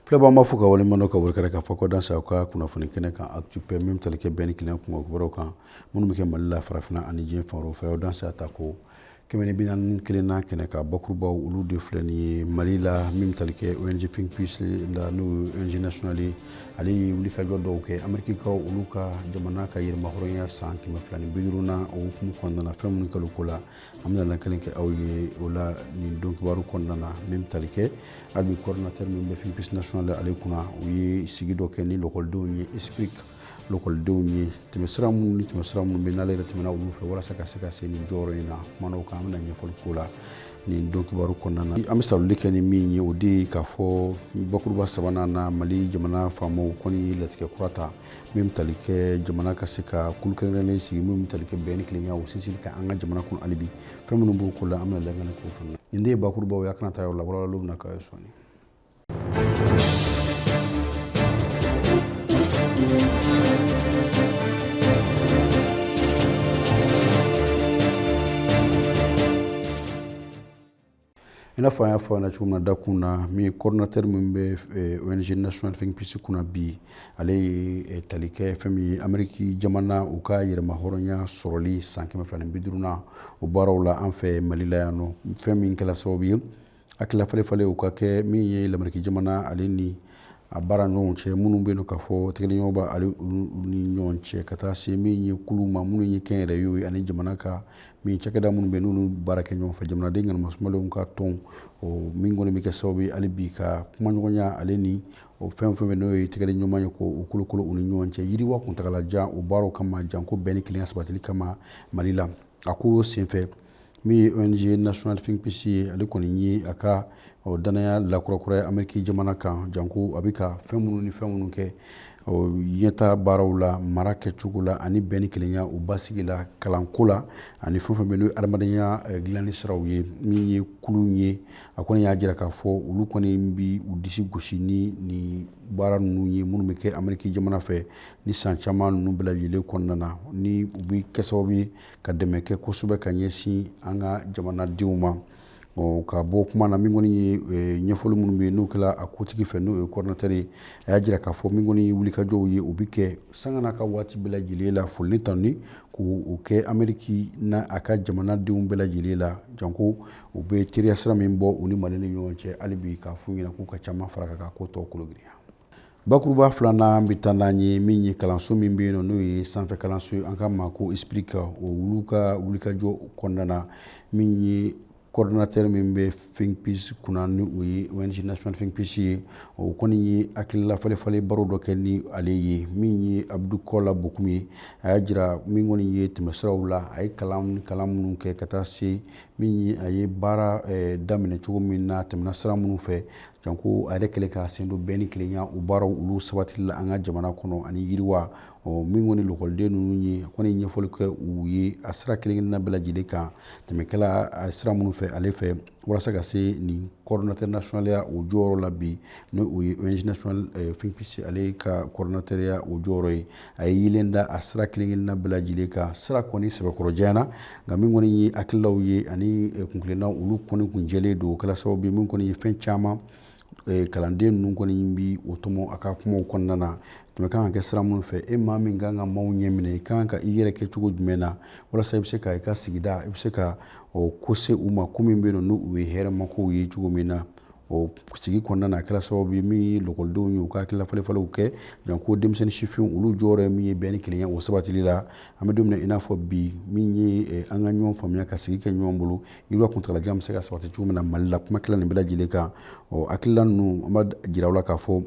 Filɛbaga ma fo ka wale ka wari kɛra ka fɔ k'aw danse an ka kunnafoni kɛnɛ kan apɛ min tali kɛ bɛn ni kelenya kow kan minnu bɛ kɛ mali la farafinna ani diɲɛ fan fɛ aw danse ta ko kɛmɛ bɛ kelen n'a kɛnɛ ka bakurubaw olu de filɛ nin ye mali la min tali kɛ ONG la n'o ye national ale ye wulikajɔ dɔw kɛ amerikikaw olu ka jamana ka yɛrɛmahɔrɔnya san kɛmɛ fila ni bi duurunan hukumu kɔnɔna fɛn minnu kɛla o ko la an bɛna lakali kɛ aw ye o la nin don kibaru kɔnɔna na min bɛ tali kɛ hali bi coordinateur min bɛ Think Peace national ale kunna u ye sigi dɔ kɛ ni lɔkɔlidenw ye esprik lɔkɔlidenw ye tɛmɛsira minnu ni tɛmɛsira minnu bɛ n'ale yɛrɛ tɛmɛna olu fɛ walasa ka se ka se nin jɔyɔrɔ in na kumana o kan an bɛna ɲɛfɔli k'o la nin don kibaru kɔnɔna na an bɛ sarali kɛ ni min ye o de ye k'a fɔ bakuruba sabanan na mali jamana faamaw kɔni ye latigɛ kura ta min bɛ tali kɛ jamana ka se ka kulu kɛrɛnkɛrɛnnen sigi min tali kɛ bɛn ni kelenya o sinsinni kan an ka jamana kɔnɔ hali bi fɛn minnu b'o ko la an bɛna lakali k'o fana nin de ye bakurubaw ye a kana taa yɔrɔ la walawalaliw bɛna k'aw ye sɔɔni i n'a fɔ an y'a fɔ na cogo min na dakun na min ye coordinateur min bɛ eh, ONG National Think Peace kunna bi ale ye eh, tali kɛ fɛn min ye Ameriki jamana u ka yɛrɛmahɔrɔnya sɔrɔli san kɛmɛ fila ni bi duurunan o baaraw la an fɛ Mali la yan n'o fɛn min kɛla sababu ye hakilila falen falen u ka kɛ min ye lameriki jamana ale ni a baara ɲɔgɔn cɛ minnu bɛ yen k'a fɔ tɛgɛdiɲɔgɔnma b'ale ni ɲɔgɔn cɛ ka taa se min ye kulu ma minnu ye kɛnyɛrɛyew ye ani jamana ka min cakɛda minnu bɛ n'olu baara kɛ ɲɔgɔn fɛ jamanaden kana masumalenw ka tɔn o min kɔni bɛ kɛ sababu ye hali bi ka kumaɲɔgɔnya ale ni o fɛn fɛn bɛ n'o ye tɛgɛdiɲɔgɔnma ye k'o kologɛlɛya u ni ɲɔgɔn cɛ yiriwa kuntagalajan o baaraw kama janko bɛn ni kelenya sabatili kama mali la a ko senfɛ min ye ong national think peace ye ale kɔni ye a ka dannaya lakurakuraya ameriki jamana kan janko a bɛ ka fɛn minnu ni fɛn minnu kɛ ɲɛta baaraw la mara kɛcogo la ani bɛn ni kelenya o basigi la kalanko la ani fɛn fɛn bɛ n'o adamadenya eh, dilanni siraw ye min ye kulu ye a kɔni y'a jira k'a fɔ olu kɔni bɛ u disi gosi ni nin baara ninnu ye minnu bɛ kɛ ameriki jamana fɛ ni san caman ninnu bɛɛ lajɛlen kɔnɔna na ni u bɛ kɛ sababu ye ka dɛmɛ kɛ kosɛbɛ ka ɲɛsin an ka jamanadenw ma ka bɔ kuma na min kɔni ye e, ɲɛfɔli minnu bɛ yen n'o kɛra a kotigi fɛ n'o ye coordinateur ye a y'a jira k'a fɔ min kɔni ye wulikajɔw ye u bɛ kɛ sanga n'a ka waati bɛɛ lajɛlen la foli tanuni k'o kɛ ameriki n'a ka jamanadenw bɛɛ lajɛlen la janko u bɛ teriya sira min bɔ u ni mali ni ɲɔgɔn cɛ hali bi k'a f'u ɲɛna k'u ka caman fara a kan ka ko tɔw kologirinya Bakuruba filanan an bɛ taa n'an ye min ye kalanso min bɛ yen n'o ye sanfɛ kalanso ye an k'a ma ko ISPRIC ka o u ka wulikajɔ kɔnɔna na min ye coordinateur min bɛ Think Peace kunna ni o ye ONG Think Peace ye o kɔni ye hakilila falen falen baro dɔ kɛ ni ale ye min ye Abdou Kola Bocoum ye a y'a jira min kɔni ye tɛmɛsiraw la a ye kalan kalan minnu kɛ ka taa se min a ye baara daminɛ cogo min na tɛmɛna sira minnu fɛ Janko ale kɛlen ka sen don bɛn ni kelenya o baaraw olu sabatili la an ka jamana kɔnɔ ani yiriwa min kɔni lakɔliden ninnu ye kɔni ɲɛfɔli kɛ u ye a sira kelen-kelenna bɛɛ lajɛlen kan tɛmɛ kɛla a sira minnu fɛ ale fɛ walasa ka se nin coordinateur nationalya o jɔyɔrɔ la bi n' o ye ONG national Think Peace ale ka coordinateurya o jɔyɔrɔ ye a ye yeelen da a sira kelen-kelenna bɛɛ lajɛlen kan sira kɔni sɛbɛkɔrɔ janyana nka min kɔni ye hakililaw ye ani eh, kuntilenna olu kɔni kun jɛlen don o kɛla sababu ye min kɔni ye fɛn caman eh, kalanden ninnu kɔni bi o tɔmɔ a ka kumaw kɔnɔna na tɛmɛ kan ka kɛ sira minnu fɛ e maa min kan ka maaw ɲɛ minɛ i kan ka i yɛrɛ kɛ cogo jumɛn na walasa i bɛ se ka i ka sigida i bɛ se ka ko se u ma ko min bɛ yen n'o ye hɛrɛmakow ye cogo min na o sigi kɔnɔna na a kɛra sababu ye min ye lakɔlidenw ye u ka hakilila falefalew kɛ janko denmisɛnnin sifinw olu jɔyɔrɔ ye min ye bɛn ni kelenya o sabatili la an bɛ don min na i n'a fɔ bi min ye eh, an ka ɲɔgɔn faamuya ka sigi kɛ ɲɔgɔn bolo yiriwa kuntagalajan bɛ se ka sabati cogo min na mali la kuma kɛla nin bɛɛ lajɛlen kan ɔ hakilila ninnu an b'a jira u la k'a fɔ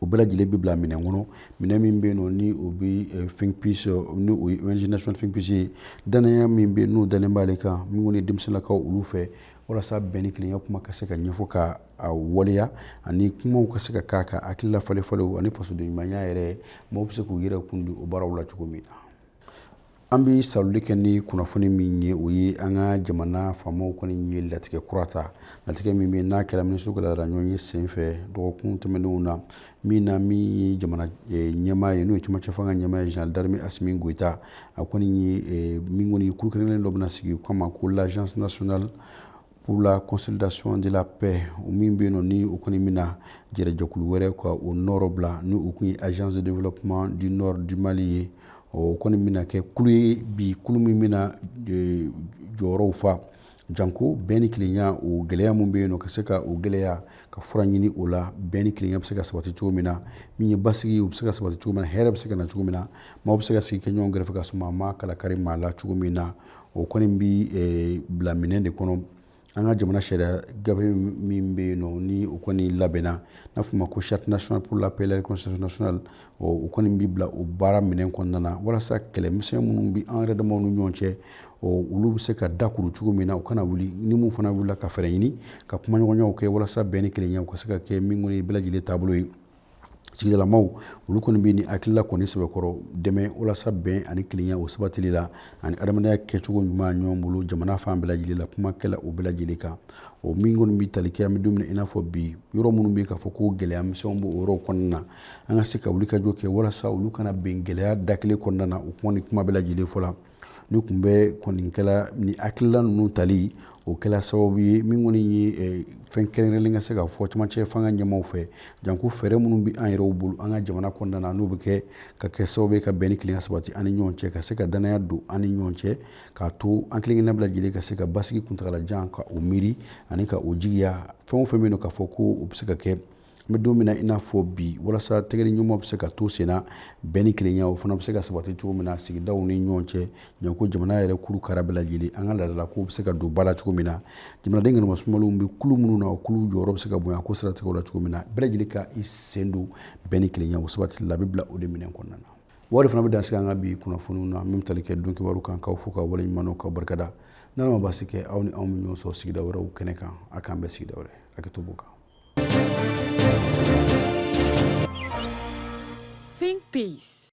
o bɛɛ lajɛlen bɛ bila minɛn kɔnɔ minɛn min bɛ yen nɔ ni o bɛ eh, Think Peace eh, ni o ye ONG national Think Peace ye danaya min bɛ yen n'o dalen b'ale kan min kɔni ye denmisɛnninlakaw olu fɛ walasa bɛn ni kelenya kuma ka se ka ɲɛfɔ ka a waleya ani kumaw ka se ka k'a ka hakilila falen falenw ani fasoden ɲumanya yɛrɛ maaw bɛ se k'u yɛrɛ kun di o baaraw la cogo min na An bɛ salli kɛ ni kunnafoni min ye o ye an ka jamana faamaw kɔni ye latigɛ kura ta latigɛ min bɛ n'a kɛra minisiw ka laada ɲɔgɔnye senfɛ dɔgɔkun tɛmɛnenw na min na min ye jamana eh, ɲɛmaa ye n'o ye cɛmancɛ fanga ɲɛmaa ye général d'armée Assimi Goïta a kɔni ye eh, min kɔni ye kulu kɛrɛnkɛrɛnnen dɔ bɛna sigi k'a ma ko l'agence nationale pour la consolidation de la paix o min bɛ yen nɔ ni o kɔni bɛna jɛrɛjɛkulu wɛrɛ ka o nɔrɔ bila ni o kun ye agence de développement du nord du mali ye o kɔni bɛna kɛ kulu ye bi kulu min bɛna e, jɔyɔrɔw fa janko bɛn ni kelenya o gɛlɛya min bɛ yen nɔ ka se ka o gɛlɛya ka fura ɲini o la bɛn ni kelenya bɛ se ka sabati cogo min na min ye basigi o bɛ se ka sabati cogo min na hɛrɛ bɛ se ka na cogo min na maaw bɛ se ka sigi kɛ ɲɔgɔn kɛrɛfɛ k'a sɔrɔ maa ma kala kari maa la cogo min na o kɔni bɛ eh, bila minɛn de kɔnɔ an ka jamana sariya gafe min bɛ yen nɔ ni o kɔni labɛnna n'a fɔ a ma ko charte nationale pour la paix la réconciliation nationale o kɔni bɛ bila o baara minɛn kɔnɔna na walasa kɛlɛmisɛn minnu bɛ an yɛrɛ damaw ni ɲɔgɔn cɛ olu bɛ se ka dakuru cogo min na u kana wuli ni min fana wulila ka fɛɛrɛ ɲini ka kumaɲɔgɔnyaw kɛ walasa bɛn ni kelenya u ka se ka kɛ min kɔni ye bɛɛ lajɛlen taabolo ye sigidalamaw olu kɔni bɛ nin hakilila kɔni sɛbɛkɔrɔ dɛmɛ walasa bɛn ani kelenya o sabatili la ani adamadenya kɛcogo ɲuman ɲɔgɔn bolo jamana fan bɛɛ lajɛlen la kuma kɛla o bɛɛ lajɛlen kan o min kɔni bɛ tali kɛ an bɛ don min i n'a fɔ bi yɔrɔ minnu bɛ k'a fɔ ko gɛlɛya misɛnw b'o yɔrɔw kɔnɔna na an ka se ka wulikajɔ kɛ walasa olu kana bin gɛlɛya da kelen kɔnɔna na o kuma ni kuma bɛɛ lajɛlen fɔla nin kunbɛn kɔni kɛla ni hakilila ninnu tali o kɛra sababu ye min kɔni ye eh, fɛn kɛrɛnkɛrɛnlen ka se ka fɔ camancɛ fanga ɲɛmaaw fɛ janko fɛɛrɛ minnu bɛ an yɛrɛw bolo an ka jamana kɔnɔna na n'o bɛ se ka kɛ sababu ye ka bɛn ni kelenya sabati an ni ɲɔgɔn cɛ ka se ka danaya don an ni ɲɔgɔn cɛ k'a to an kelenkelenna bɛɛ lajɛlen ka se ka basigi kuntagalajan ka o miiri ani ka o jigiya fɛn o fɛn bɛ yen k'a fɔ ko o bɛ se ka kɛ n bɛ don min na i n'a fɔ bi walasa tɛgɛdiɲɔgɔnma bɛ se ka to sen na bɛn ni kelenya o fana bɛ se ka sabati cogo min na sigidaw ni ɲɔgɔn cɛ janko jamana yɛrɛ kuru kara bɛɛ lajɛlen an ka laadala kow bɛ se ka don ba la cogo min na jamanaden kɛnɛma sumalenw bɛ kulu minnu na o kulu jɔyɔrɔ bɛ se ka bonya ko siratigɛw la cogo min na bɛɛ lajɛlen ka i sen don bɛn ni kelenya o sabatili la a bɛ bila o de minɛn kɔnɔna na wa o fana bɛ dan sigi an ka bi kunnafoniw na min bɛ tali kɛ don kibaru kan k'aw fo k'aw waleɲumandɔn k'aw barika da n'ala ma baasi kɛ aw ni anw bɛ ɲɔgɔn sɔrɔ sigida wɛrɛw kɛnɛ kan a k'an bɛn sigida wɛrɛ hakɛto b'o kan Think Peace.